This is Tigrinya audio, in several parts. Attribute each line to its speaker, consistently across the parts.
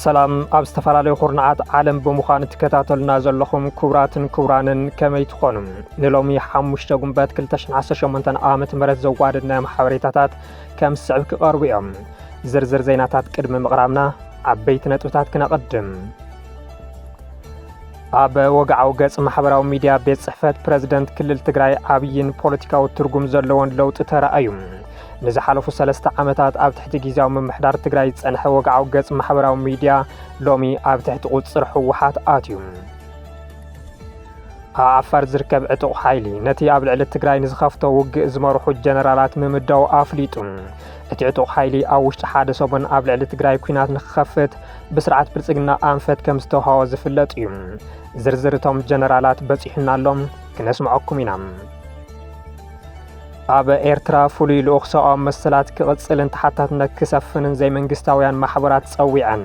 Speaker 1: ሰላም ኣብ ዝተፈላለዩ ኩርናዓት ዓለም ብምዃን እትከታተሉና ዘለኹም ክቡራትን ክቡራንን ከመይ ትኾኑ ንሎሚ ሓሙሽተ ጉንበት 218 ዓ ም ዘዋደድናዮም ሓበሬታታት ከም ዝስዕብ ክቐርቡ እዮም ዝርዝር ዜናታት ቅድሚ ምቕራብና ዓበይቲ ነጥብታት ክነቐድም ኣብ ወግዓዊ ገጽ ማሕበራዊ ሚድያ ቤት ጽሕፈት ፕረዚደንት ክልል ትግራይ ዓብይን ፖለቲካዊ ትርጉም ዘለዎን ለውጢ ተራእዩ። ንዝሓለፉ ሰለስተ ዓመታት ኣብ ትሕቲ ግዜያዊ ምምሕዳር ትግራይ ዝጸንሐ ወግዓዊ ገጽ ማሕበራዊ ሚድያ ሎሚ ኣብ ትሕቲ ቁጽጽር ህወሓት ኣትዩ። ኣብ ዓፋር ዝርከብ ዕጡቕ ሓይሊ ነቲ ኣብ ልዕሊ ትግራይ ንዝኸፍቶ ውግእ ዝመርሑ ጀነራላት ምምዳው ኣፍሊጡ። እቲ ዕጡቕ ሓይሊ ኣብ ውሽጢ ሓደ ሰሙን ኣብ ልዕሊ ትግራይ ኩናት ንክኸፍት ብስርዓት ብልጽግና ኣንፈት ከም ዝተውሃቦ ዝፍለጥ እዩ። ዝርዝር እቶም ጀነራላት በጺሑና ኣሎ፣ ክነስምዐኩም ኢና። ኣብ ኤርትራ ፍሉይ ልኡኽ ሰብኣዊ መሰላት ክቕጽልን ተሓታትነት ክሰፍንን ዘይመንግስታውያን ማሕበራት ጸዊዐን።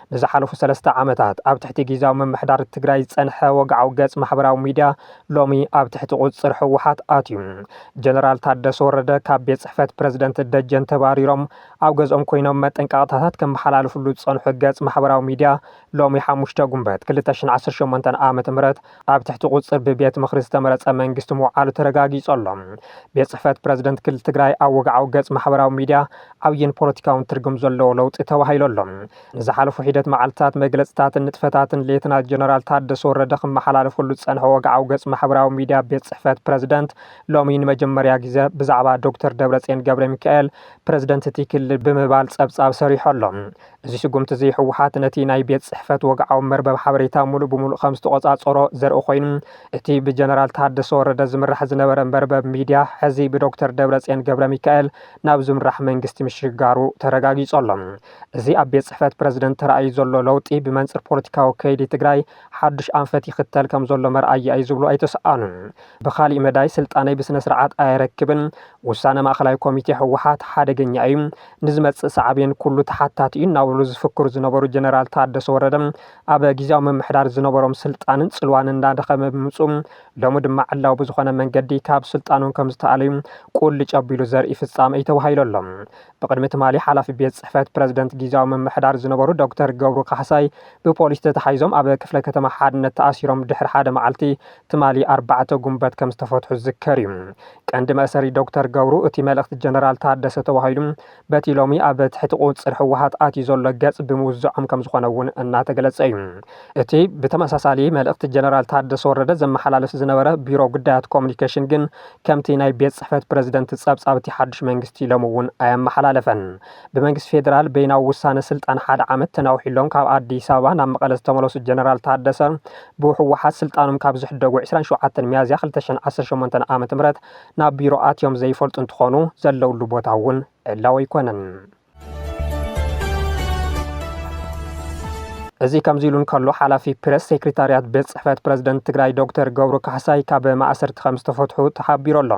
Speaker 1: ንዝሓለፉ ሰለስተ ዓመታት ኣብ ትሕቲ ጊዚያዊ ምምሕዳር ትግራይ ዝፀንሐ ወግዓዊ ገፅ ማሕበራዊ ሚዲያ ሎሚ ኣብ ትሕቲ ቁፅፅር ህወሓት ኣትዩ። ጀነራል ታደሰ ወረደ ካብ ቤት ፅሕፈት ፕረዚደንት ደጀን ተባሪሮም ኣብ ገዝኦም ኮይኖም መጠንቀቕታታት ከመሓላልፍሉ ዝፀንሑ ገፅ ማሕበራዊ ሚዲያ ሎሚ ሓሙሽተ ጉንበት ክልተ ሽሕን ዓሰርተ ሸሞንተን ዓመተ ምህረት ኣብ ትሕቲ ቁፅፅር ብቤት ምኽሪ ዝተመረፀ መንግስቲ ምውዓሉ ተረጋጊፁ ኣሎ። ቤት ፅሕፈት ፕረዚደንት ክልል ትግራይ ኣብ ወግዓዊ ገፅ ማሕበራዊ ሚዲያ ዓብዪን ፖለቲካውን ትርጉም ዘለዎ ለውጢ ተባሂሉ ኣሎ። ንዝሓለፉ ሒደት መዓልትታት መግለፅታትን ንጥፈታትን ሌተናል ጀነራል ታደሰ ወረደ ክመሓላለፈሉ ዝፀንሐ ወግዓዊ ገፅ ማሕበራዊ ሚዲያ ቤት ፅሕፈት ፕረዚደንት ሎሚ ንመጀመርያ ግዘ ብዛዕባ ዶክተር ደብረፅዮን ገብረሚካኤል ፕረዚደንት እቲ ክልል ብምባል ፀብፃብ ሰሪሑ ኣሎ። እዚ ስጉምቲ እዚ ህወሓት ነቲ ናይ ቤት ፅሕፈት ወግዓዊ መርበብ ሓበሬታ ሙሉእ ብሙሉእ ከምዝተቖፃፀሮ ዘርኢ ኮይኑ እቲ ብጀነራል ታደሰ ወረደ ዝምራሕ ዝነበረ መርበብ ሚድያ ሕዚ ብዶክተር ደብረፅዮን ገብረሚካኤል ናብ ዝምራሕ መንግስቲ ምሽጋሩ ተረጋጊፁ ኣሎ። እዚ ኣብ ቤት ፅሕፈት ፕረዚደንት ተራእዩ ዘሎ ለውጢ ብመንፅር ፖለቲካዊ ከይዲ ትግራይ ሓዱሽ ኣንፈት ይኽተል ከምዘሎ መርኣያ እዩ ዝብሉ ኣይተሰኣኑን። ብኻሊእ መዳይ ስልጣነይ ብስነስርዓት ኣየረክብን፣ ውሳነ ማእኸላይ ኮሚቴ ህወሓት ሓደገኛ እዩ፣ ንዝመፅእ ሳዕቤን ኩሉ ተሓታቲ እዩ እናበሉ ዝፍክሩ ዝነበሩ ጀነራል ታደሰ ወረደ ኣብ ጊዚያዊ ምምሕዳር ዝነበሮም ስልጣንን ፅልዋን እናደኸመ ብምምፅኡ ሎሚ ድማ ዕላዊ ብዝኾነ መንገዲ ካብ ስልጣኖም ከምዝተኣለዩ ቁልጭ ኣቢሉ ዘርኢ ፍፃመ እዩ ተባሂሉ ኣሎ። ብቕድሚ ትማሊ ሓላፊ ቤት ፅሕፈት ፕረዚደንት ጊዚያዊ ምምሕዳር ዝነበሩ ዶክተር ገብሩ ካሕሳይ ብፖሊስ ተታሒዞም ኣብ ክፍለ ከተማ ሓድነት ተኣሲሮም ድሕሪ ሓደ መዓልቲ ትማሊ ኣርባዕተ ጉንበት ከምዝተፈትሑ ዝዝከር እዩ። ቀንዲ መእሰሪ ዶክተር ገብሩ እቲ መልእኽቲ ጀነራል ታደሰ ተባሂሉ በቲ ሎሚ ኣብ ትሕቲ ቁፅፅር ህወሓት ኣትዩ ዘሎ ገፅ ብምውዛዖም ከምዝኾነ እውን እናተገለፀ እዩ። እቲ ብተመሳሳሊ መልእኽቲ ጀነራል ታደሰ ወረደ ዘመሓላልፍ ዝነበረ ቢሮ ጉዳያት ኮሙኒኬሽን ግን ከምቲ ናይ ቤት ፅሕፈት ፕረዚደንት ፀብፃብ እቲ ሓዱሽ መንግስቲ ሎሚ እውን ኣየመሓላለፈን። ብመንግስቲ ፌደራል በይናዊ ውሳነ ስልጣን ሓደ ዓመት ተናዊሑሎም ካብ ኣዲስ ኣበባ ናብ መቐለ ዝተመለሱ ጀነራል ታደሰ ብህወሓት ስልጣኖም ካብ ዝሕደጉ ዕስራን ሸውዓተን ሚያዝያ ክልተ ሽሕን ዓሰርተ ሸሞንተን ዓ ም ናብ ቢሮ ኣትዮም ዘይፈልጡ እንትኾኑ ዘለውሉ ቦታ እውን ዕላዊ ኣይኮነን። እዚ ከምዚ ኢሉ እንከሎ ሓላፊ ፕረስ ሴክሬታርያት ቤት ፅሕፈት ፕረዚደንት ትግራይ ዶክተር ገብሩ ካሕሳይ ካብ ማእሰርቲ ከም ዝተፈትሑ ተሓቢሩ ኣሎ።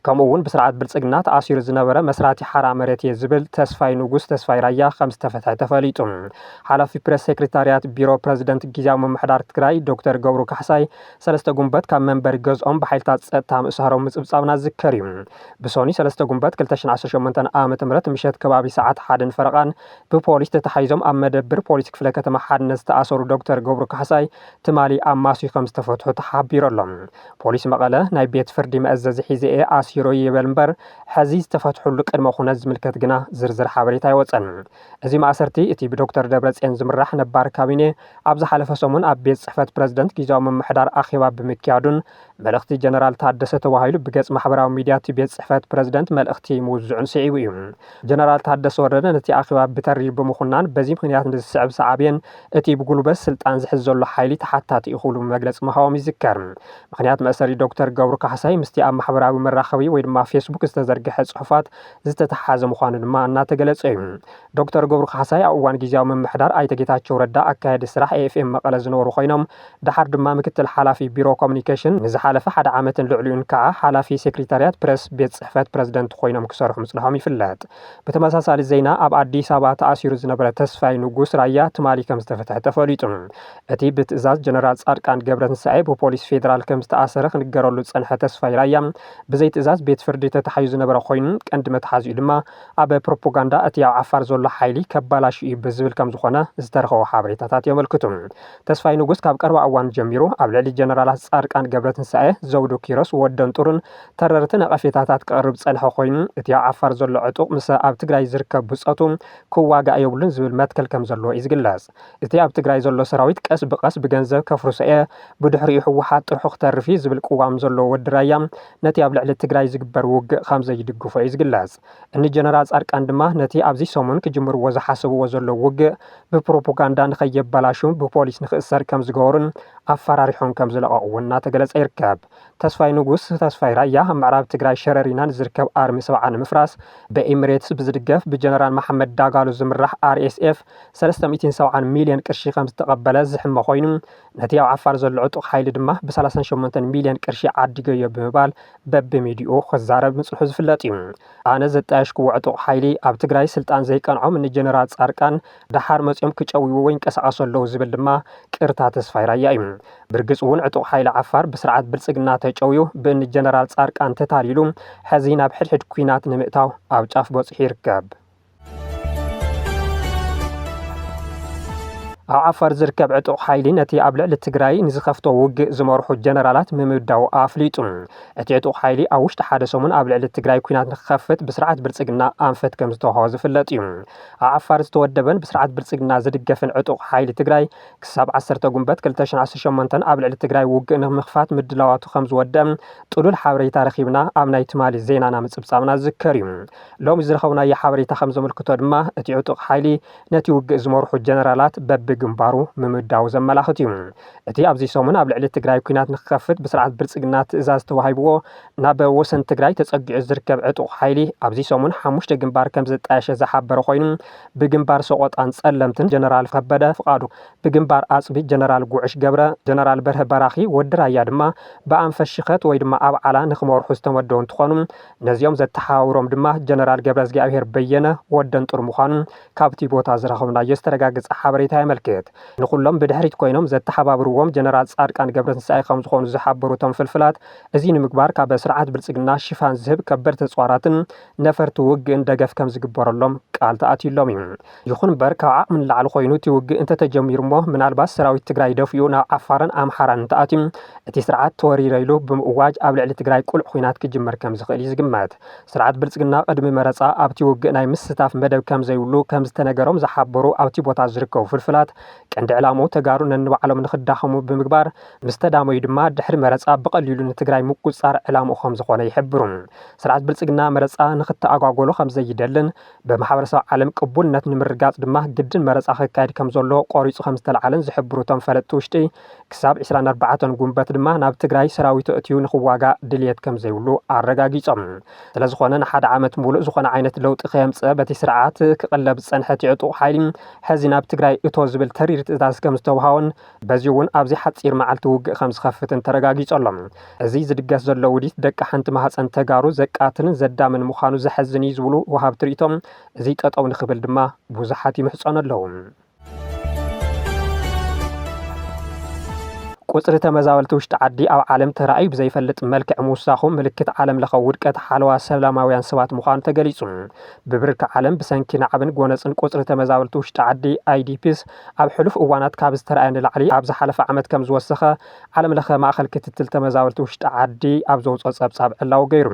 Speaker 1: ከምኡ እውን ብስርዓት ብልፅግና ተኣሲሩ ዝነበረ መስራቲ ሓራ መሬት እየ ዝብል ተስፋይ ንጉስ፣ ተስፋይ ራያ፣ ከምዝተፈትሐ ተፈሊጡ። ሓላፊ ፕሬስ ሴክሬታሪያት ቢሮ ፕረዚደንት ጊዚያዊ ምምሕዳር ትግራይ ዶክተር ገብሩ ካሕሳይ ሰለስተ ጉንበት ካብ መንበሪ ገዝኦም ብሓይልታት ፀጥታ ምእሳሮም ምፅብፃብና ዝዝከር እዩ። ብሶኑይ ሰለስተ ጉንበት ክልተ ሽሕን ዓሰርተ ሸሞንተን ዓ.ም ምሸት ከባቢ ሰዓት ሓደን ፈረቓን ብፖሊስ ተታሒዞም ኣብ መደብር ፖሊስ ክፍለ ከተማ ሓድነት ዝተኣሰሩ ዶክተር ገብሩ ካሕሳይ ትማሊ ኣማስዩ ከምዝተፈትሑ ተሓቢሩ ኣሎ። ፖሊስ መቐለ ናይ ቤት ፍርዲ መእዘዚ ሒዘ'የ ኣሲረዮ ይበል እምበር፣ ሐዚ ዝተፈትሑሉ ቅድመ ኩነት ዝምልከት ግና ዝርዝር ሓበሬታ ኣይወፀን። እዚ ማእሰርቲ እቲ ብዶክተር ደብረፅዮን ዝምራሕ ነባር ካቢኔ ኣብ ዝሓለፈ ሰሙን ኣብ ቤት ፅሕፈት ፕረዚደንት ጊዚያዊ ምምሕዳር ኣኼባ ብምክያዱን መልእኽቲ ጀነራል ታደሰ ተባሂሉ ብገፅ ማሕበራዊ ሚዲያ እቲ ቤት ፅሕፈት ፕረዚደንት መልእኽቲ ምውዝዑን ስዒቡ እዩ። ጀነራል ታደሰ ወረደ ነቲ ኣኼባ ብተሪ ብምኹናን በዚ ምኽንያት ንዝስዕብ ሳዕቤን እቲ ብጉልበት ስልጣን ዝሕዝ ዘሎ ሓይሊ ተሓታቲ እዩ ክብሉ መግለፂ ምሃቦም ይዝከር። ምኽንያት መእሰሪ ዶክተር ገብሩ ካሕሳይ ምስቲ ኣብ ማሕበራዊ መራኸቢ ወይ ድማ ፌስቡክ ዝተዘርገሐ ፅሑፋት ዝተተሓሓዘ ምዃኑ ድማ እናተገለፀ እዩ። ዶክተር ገብሩ ካሕሳይ ኣብ እዋን ጊዚያዊ ምምሕዳር ኣይተ ጌታቸው ረዳ ኣካያዲ ስራሕ ኤኤፍኤም መቐለ ዝነበሩ ኮይኖም ደሓር ድማ ምክትል ሓላፊ ቢሮ ኮሙኒኬሽን ንዝሓለፈ ሓደ ዓመትን ልዕሊኡን ከዓ ሓላፊ ሴክሪታሪያት ፕረስ ቤት ፅሕፈት ፕረዚደንት ኮይኖም ክሰርሑ ምፅንሖም ይፍለጥ። ብተመሳሳሊ ዜና ኣብ ኣዲስ ኣበባ ተኣሲሩ ዝነበረ ተስፋይ ንጉስ ራያ ትማሊ ከምዝተፈትሐ ተፈሊጡ። እቲ ብትእዛዝ ጀነራል ፃድቃን ገብረትንሳኤ ብፖሊስ ፌዴራል ከምዝተኣሰረ ክንገረሉ ዝፀንሐ ተስፋይ ራያ ብዘይትእዛዝ ቤት ፍርዲ ተታሒዙ ዝነበረ ኮይኑ ቀንዲ መትሓዚኡ ድማ ኣብ ፕሮፖጋንዳ እቲ ኣብ ዓፋር ዘሎ ሓይሊ ከባላሹ እዩ ብዝብል ከምዝኾነ ዝተረኸቡ ሓበሬታታት የመልክቱ። ተስፋይ ንጉስ ካብ ቀረባ እዋን ጀሚሩ ኣብ ልዕሊ ጀነራላት ፃድቃን ገብረትንሳኤ፣ ዘውዱ ኪሮስ፣ ወደንጡርን ተረርቲ ነቐፌታታት ክቕርብ ዝጸንሐ ኮይኑ፣ እቲ ኣብ ዓፋር ዘሎ ዕጡቕ ምስ ኣብ ትግራይ ዝርከብ ብጾቱ ክዋጋእ የብሉን ዝብል መትከል ከም ዘለዎ እዩ ዝግለጽ። እቲ ኣብ ትግራይ ዘሎ ሰራዊት ቀስ ብቐስ ብገንዘብ ከፍርሶ እየ፣ ብድሕሪኡ ህወሓት ጥርሑ ክተርፍ እዩ ዝብል ቅዋም ዘለዎ ወዲ ራያ ነቲ ኣብ ልዕሊ ትግራይ ዝግበር ውግእ ከም ዘይድግፎ እዩ ዝግለጽ። እኒ ጀነራል ጻድቃን ድማ ነቲ ኣብዚ ሰሙን ክጅምርዎ ዝሓሰብዎ ዘለዉ ውግእ ብፕሮፖጋንዳ ንከየበላሹን ብፖሊስ ንክእሰር ከም ዝገበሩን ኣፈራሪሖም ከም ዝለቐቕዎን እናተገለጸ ይርከብ። ተስፋይ ንጉስ፣ ተስፋይ ራያ፣ ኣብ ምዕራብ ትግራይ ሸረሪና ንዝርከብ ኣርሚ ሰብዓ ንምፍራስ ብኢምሬትስ ብዝድገፍ ብጀነራል መሓመድ ዳጋሎ ዝምራሕ RSF ሰለስተ ሚእትን ሰብዓን ሚልዮን ቅርሺ ከምዝተቐበለ ዝሕመ ኮይኑ ነቲ ኣብ ዓፋር ዘሎ ዕጡቕ ሓይሊ ድማ ብሰላሳን ሸሞንተን ሚልዮን ቅርሺ ዓዲገዮ ብምባል በብሚድይኡ ክዛረብ ምጽንሑ ዝፍለጥ እዩ። ኣነ ዘጣየሽክዎ ዕጡቕ ሓይሊ ኣብ ትግራይ ስልጣን ዘይቀንዖም እኒ ጀነራል ጻድቃን ደሓር መጺኦም ክጨውይዎ ይንቀሳቐሱ ኣለዉ ዝብል ድማ ቅርታ ተስፋይ ራያ እዩ። ብርግጽ እውን ዕጡቕ ሓይሊ ዓፋር ብስርዓት ብልጽግና ተጨውዩ ብእኒ ጀነራል ጻርቃን ተታሊሉ ሕዚ ናብ ሕድሕድ ኲናት ንምእታው ኣብ ጫፍ በጺሑ ይርከብ። ኣብ ዓፋር ዝርከብ ዕጡቕ ሓይሊ ነቲ ኣብ ልዕሊ ትግራይ ንዝኸፍቶ ውግእ ዝመርሑ ጀነራላት ምምዳው ኣፍሊጡ። እቲ ዕጡቕ ሓይሊ ኣብ ውሽጢ ሓደ ሰሙን ኣብ ልዕሊ ትግራይ ኲናት ንክኸፍት ብስርዓት ብልጽግና ኣንፈት ከምዝተዋህቦ ዝፍለጥ እዩ። ኣብ ዓፋር ዝተወደበን ብስርዓት ብልፅግና ዝድገፍን ዕጡቕ ሓይሊ ትግራይ ክሳብ ዓሰርተ ጉንበት ክልተ ሽሕን ዓሰርተ ሸሞንተን ኣብ ልዕሊ ትግራይ ውግእ ንምኽፋት ምድላዋቱ ከምዝወደእ ጥሉል ሓበሬታ ረኺብና ኣብ ናይ ትማሊ ዜናና ምፅብፃብና ዝዝከር እዩ። ሎሚ ዝረኸብናዮ ሓበሬታ ከምዘመልክቶ ድማ እቲ ዕጡቕ ሓይሊ ነቲ ውግእ ዝመርሑ ጀነራላት በቢ ግንባሩ ምምዳዉ ዘመላኽት እዩ። እቲ ኣብዚ ሰሙን ኣብ ልዕሊ ትግራይ ኲናት ንክኸፍት ብስርዓት ብልፅግና ትእዛዝ ተዋሂብዎ ናብ ወሰን ትግራይ ተጸጊዑ ዝርከብ ዕጡቕ ሓይሊ ኣብዚ ሰሙን ሓሙሽተ ግንባር ከም ዘጣየሸ ዝሓበረ ኮይኑ ብግንባር ሰቖጣን ጸለምትን ጀነራል ከበደ ፍቓዱ፣ ብግንባር ኣጽቢ ጀነራል ጉዕሽ ገብረ፣ ጀነራል በርሀ በራኺ፣ ወዲ ራያ ድማ ብኣንፈት ሽኸት ወይ ድማ ኣብዓላ ንክመርሑ ዝተመደቡ እንትኾኑ ነዚኦም ዘተሓባብሮም ድማ ጀነራል ገብረዝጊኣብሄር በየነ፣ ወደንጡር፣ ምዃኑ ካብቲ ቦታ ዝረኸብናዮ ዝተረጋገጸ ሓበሬታ የመልክት። ንኹሎም ብድሕሪት ኮይኖም ዘተሓባብርዎም ጀነራል ጻድቃን ገብረትንሳኤ ከምዝኾኑ ዝሓበሩ እቶም ፍልፍላት፣ እዚ ንምግባር ካብ ስርዓት ብልፅግና ሽፋን ዝህብ ከበድቲ ተፅዋራትን ነፈርቲ ውግእን ደገፍ ከምዝግበረሎም ቃል ተኣትዩሎም እዩ። ይኹን እምበር ካብ ዓቕሚ ንላዕሊ ኮይኑ እቲ ውግእ እንተተጀሚሩ እሞ ምናልባት ሰራዊት ትግራይ ደፊኡ ናብ ዓፋርን ኣምሓራን እንተኣትዩ እቲ ስርዓት ተወሪረ ኢሉ ብምእዋጅ ኣብ ልዕሊ ትግራይ ቅሉዕ ኹናት ክጅምር ከምዝኽእል እዩ ዝግመት። ስርዓት ብልፅግና ቅድሚ መረፃ ኣብቲ ውግእ ናይ ምስታፍ መደብ ከምዘይብሉ ከምዝተነገሮም ዝሓበሩ ኣብቲ ቦታ ዝርከቡ ፍልፍላት ቀንዲ ዕላምኡ ተጋሩ ነንባዕሎም ንኽዳኸሙ ብምግባር ምስ ተዳመዩ ድማ ድሕሪ መረፃ ብቐሊሉ ንትግራይ ምቁፅፃር ዕላምኡ ከምዝኾነ ይሕብሩ። ስርዓት ብልፅግና መረፃ ንኽተኣጓጎሎ ከምዘይደልን ብማሕበረሰብ ዓለም ቅቡልነት ንምርግጋፅ ድማ ግድን መረፃ ክካየድ ከምዘለዎ ቆሪፁ ከምዝተልዓለን ዝሕብሩ እቶም ፈለጥቲ ውሽጢ ክሳብ ዕስራን ኣርባዕተን ጉንበት ድማ ናብ ትግራይ ሰራዊቱ ኣእትዩ ንኽዋጋእ ድልየት ከምዘይብሉ ኣረጋጊፆም። ስለዝኾነ ንሓደ ዓመት ሙሉእ ዝኾነ ዓይነት ለውጢ ከየምፅኣ በቲ ስርዓት ክቕለብ ዝፀንሐ እቲ ዕጡቕ ሓይሊ ሕዚ ናብ ትግራይ እቶ ዝብል ተሪር ትእዛዝ ከምዝተውሃቦን በዚ'ውን ኣብዚ ሓጺር መዓልቲ ውግእ ከም ዝኸፍትን ተረጋጊጹ ኣሎ። እዚ ዝድገስ ዘሎ ውዲት ደቂ ሓንቲ ማህጸን ተጋሩ ዘቃትልን ዘዳምን ምዃኑ ዘሐዝን እዩ ዝብሉ ወሃብቲ ሪኢቶ፣ እዚ ጠጠው ንኽብል ድማ ብዙሓት ይምሕጸኑ ኣለው። ቁጽሪ ተመዛበልቲ ውሽጢ ዓዲ ኣብ ዓለም ተራእዩ ብዘይፈልጥ መልክዕ ምውሳኹ ምልክት ዓለም ለኸ ውድቀት ሓለዋ ሰላማውያን ሰባት ምዃኑ ተገሊጹ። ብብርኪ ዓለም ብሰንኪ ናዕብን ጎነጽን ቁጽሪ ተመዛበልቲ ውሽጢ ዓዲ፣ ኣይዲፒስ፣ ኣብ ሕሉፍ እዋናት ካብ ዝተርኣየ ንላዕሊ ኣብ ዝሓለፈ ዓመት ከምዝወሰኸ ዓለም ለኸ ማእኸል ክትትል ተመዛበልቲ ውሽጢ ዓዲ ኣብ ዘውፅኦ ፀብፃብ ዕላዊ ገይሩ።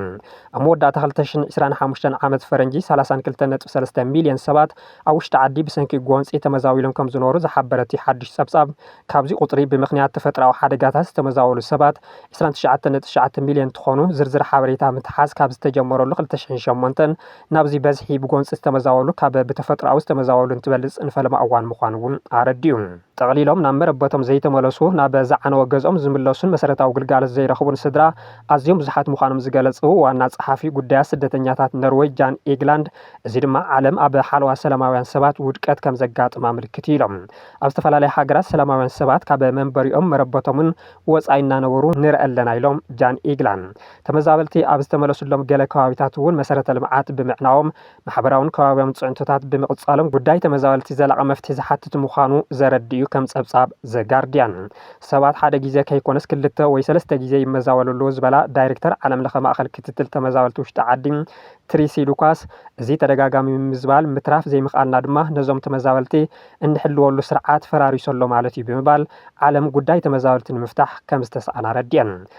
Speaker 1: ኣብ መወዳእታ ክልተ ሽሕን ዕስራን ሓሙሽተን ዓመት ፈረንጂ ሰላሳን ክልተን ነጥቢ ሰለስተ ሚሊየን ሰባት ኣብ ውሽጢ ዓዲ ብሰንኪ ጎንፂ ተመዛቢሎም ከምዝነበሩ ዝሓበረ እቲ ሓዱሽ ፀብፃብ ካብዚ ቁፅሪ ብምኽንያት ተፈጥራዊ ሓደጋታት ዝተመዛበሉ ሰባት ዕስራን ትሽዓተን ነጥቢ ትሽዓተ ሚሊየን እንትኾኑ ዝርዝር ሓበሬታ ምትሓዝ ካብ ዝተጀመረሉ ክልተ ሽሕን ሸሞንተን ናብዚ በዝሒ ብጎንፂ ዝተመዛበሉ ካብ ብተፈጥሮኣዊ ዝተመዛበሉ እንትበልፅ ንፈለማ እዋን ምዃኑ እውን ኣረዲኡ። ጠቕሊሎም ናብ መረበቶም ዘይተመለሱ፣ ናብ ዝዓነወ ገዝኦም ዝምለሱን መሰረታዊ ግልጋሎት ዘይረኽቡን ስድራ ኣዝዮም ብዙሓት ምዃኖም ዝገለፁ ዋና ፀሓፊ ጉዳያት ስደተኛታት ኖርወይ ጃን ኤግላንድ እዚ ድማ ዓለም ኣብ ሓለዋ ሰላማውያን ሰባት ውድቀት ከምዘጋጥማ ምልክት እዩ ኢሎም። ኣብ ዝተፈላለያ ሃገራት ሰላማውያን ሰባት ካብ መንበሪኦምን መረበቶምን ወፃኢ እናነበሩ ንርኢ ኣለና ኢሎም ጃን ኤግላንድ። ተመዛበልቲ ኣብ ዝተመለሱሎም ገለ ከባቢታት እውን መሰረተ ልምዓት ብምዕናዎም ማሕበራውን ከባብያውን ፅዕንቶታት ብምቕፃሎም ጉዳይ ተመዛበልቲ ዘላቒ መፍትሒ ዝሓትት ምዃኑ ዘረድእ እዩ ከም ፀብፃብ ዘ ጋርዲያን ሰባት ሓደ ግዜ ከይኮነስ ክልተ ወይ ሰለስተ ግዜ ይመዛበሉ ኣለዉ ዝበላ ዳይሬክተር ዓለምለኸ ማእኸል ክትትል ተመዛበልቲ ውሽጢ ዓዲ ትሪሲ ሉካስ እዚ ተደጋጋሚ ምምዝባል ምትራፍ ዘይምኽኣልና ድማ ነዞም ተመዛበልቲ እንሕልወሉ ስርዓት ፈራሪሱ ኣሎ ማለት እዩ ብምባል ዓለም ጉዳይ ተመዛበልቲ ንምፍታሕ ከም ዝተስኣና ኣረዲኣን።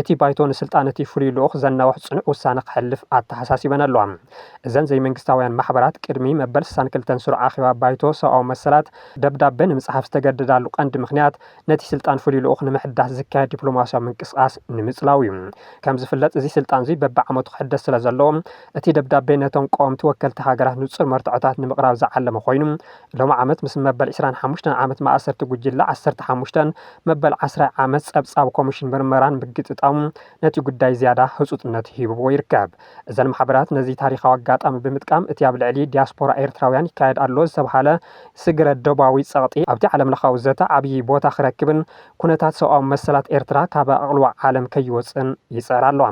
Speaker 1: እቲ ባይቶ ንስልጣን እቲ ፍሉይ ልኡኽ ዘናውሕ ጽኑዕ ውሳነ ከሕልፍ ኣተሓሳሲበን ኣለዋ። እዘን ዘይመንግስታውያን ማሕበራት ቅድሚ መበል ስሳን ክልተን ስሩዕ ኣኼባ ባይቶ ሰብኣዊ መሰላት ደብዳበ ንምጽሓፍ ዝተገደዳሉ ቀንዲ ምኽንያት ነቲ ስልጣን ፍሉይ ልኡኽ ንምሕዳስ ዝካየድ ዲፕሎማስያዊ ምንቅስቓስ ንምጽላው እዩ። ከም ዝፍለጥ እዚ ስልጣንዚ በብዓመቱ ክሕደስ ስለ ዘለዎ እቲ ደብዳቤ ነቶም ቀወምቲ ወከልቲ ሃገራት ንጹር መርትዖታት ንምቕራብ ዝዓለመ ኮይኑ ሎሚ ዓመት ምስ መበል ዕስራን ሓሙሽተን ዓመት ማእሰርቲ ጉጅለ ዓሰርተ ሓሙሽተን መበል ዓስራይ ዓመት ፀብፃብ ኮሚሽን ምርመራን ምግጥጣሙ ነቲ ጉዳይ ዝያዳ ህፁፅነት ሂብዎ ይርከብ። እዘን ማሕበራት ነዚ ታሪኻዊ ኣጋጣሚ ብምጥቃም እቲ ኣብ ልዕሊ ዲያስፖራ ኤርትራውያን ይካየድ ኣሎ ዝተብሃለ ስግረ ዶባዊ ፀቕጢ ኣብቲ ዓለምለኻዊ ዘተ ዓብዪ ቦታ ክረክብን ኩነታት ሰብኣዊ መሰላት ኤርትራ ካብ ኣቓልቦ ዓለም ከይወፅእን ይፅዕራ ኣለዋ።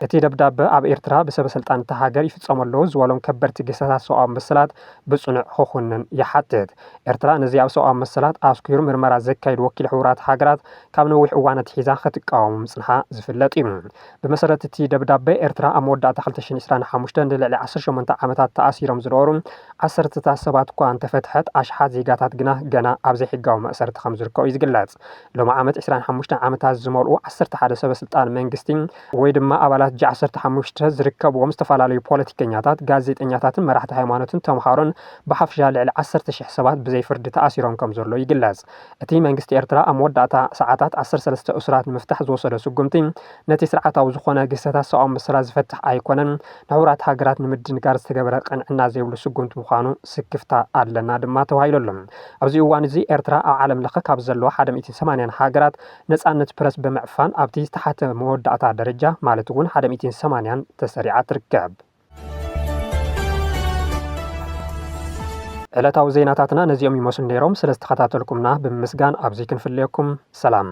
Speaker 1: እቲ ደብዳበ ኣብ ኤርትራ ብሰበስልጣን እታ ሃገር ይፍፀሙ ኣለዉ ዝበሎም ከበድቲ ግህሰታት ሰብኣዊ መሰላት ብጽኑዕ ኽኹንን ይሓትት። ኤርትራ ነዚ ኣብ ሰብኣዊ መሰላት ኣትኲሩ ምርመራ ዘካይድ ወኪል ሕቡራት ሃገራት ካብ ነዊሕ እዋን ኣትሒዛ ኽትቃወሞ ምጽንሓ ዝፍለጥ እዩ። ብመሰረት እቲ ደብዳበ ኤርትራ ኣብ መወዳእታ ክልተ ሽሕን ዕስራን ሓሙሽተን ንልዕሊ ዓሰርተ ሸሞንተ ዓመታት ተኣሲሮም ዝነበሩ ዓሰርተታት ሰባት እኳ እንተፈትሐት ኣሽሓት ዜጋታት ግና ገና ኣብ ዘይሕጋዊ መእሰርቲ ኸም ዝርከቡ እዩ ዝግለጽ። ሎሚ ዓመት ዕስራን ሓሙሽተን ዓመታት ዝመልኡ ዓሰርተ ሓደ ሰበ ስልጣን መንግስቲ ወይ ድማ ኣባላት ጂ ዓሰርተ ሓሙሽተ ዝርከብዎም ዝተፈላለዩ ፖለቲከኛታት፣ ጋዜጠኛታትን መራሕቲ ሃይማኖትን ተምሃሮን ብሓፈሻ ልዕሊ ዓሰርተ ሽሕ ሰባት ብዘይ ፍርዲ ተኣሲሮም ከም ዘሎ ይግለጽ። እቲ መንግስቲ ኤርትራ ኣብ መወዳእታ ሰዓታት ዓሰርተ ሰለስተ እሱራት ንምፍታሕ ዝወሰዶ ስጉምቲ ነቲ ስርዓታዊ ዝኾነ ግህሰታት ሰብኣዊ መሰላት ዝፈትሕ ኣይኮነን ንሕቡራት ሃገራት ንምድንጋር ዝተገበረ ቅንዕና ዘይብሉ ስጉምቲ ምዃኑ ስክፍታ ኣለና ድማ ተባሂሉ ኣሎ። ኣብዚ እዋን እዚ ኤርትራ ኣብ ዓለም ለኸ ካብ ዘለዋ ሓደ ሚእትን ሰማንያን ሃገራት ነጻነት ፕረስ ብምዕፋን ኣብቲ ዝተሓተ መወዳእታ ደረጃ ማለት እውን ሓደ ሚእቲን ሰማንያን ተሰሪዓ ትርከብ። ዕለታዊ ዜናታትና ነዚኦም ይመስሉ ነይሮም። ስለ ዝተኸታተልኩምና ብምምስጋን ኣብዚ ክንፍለየኩም ሰላም።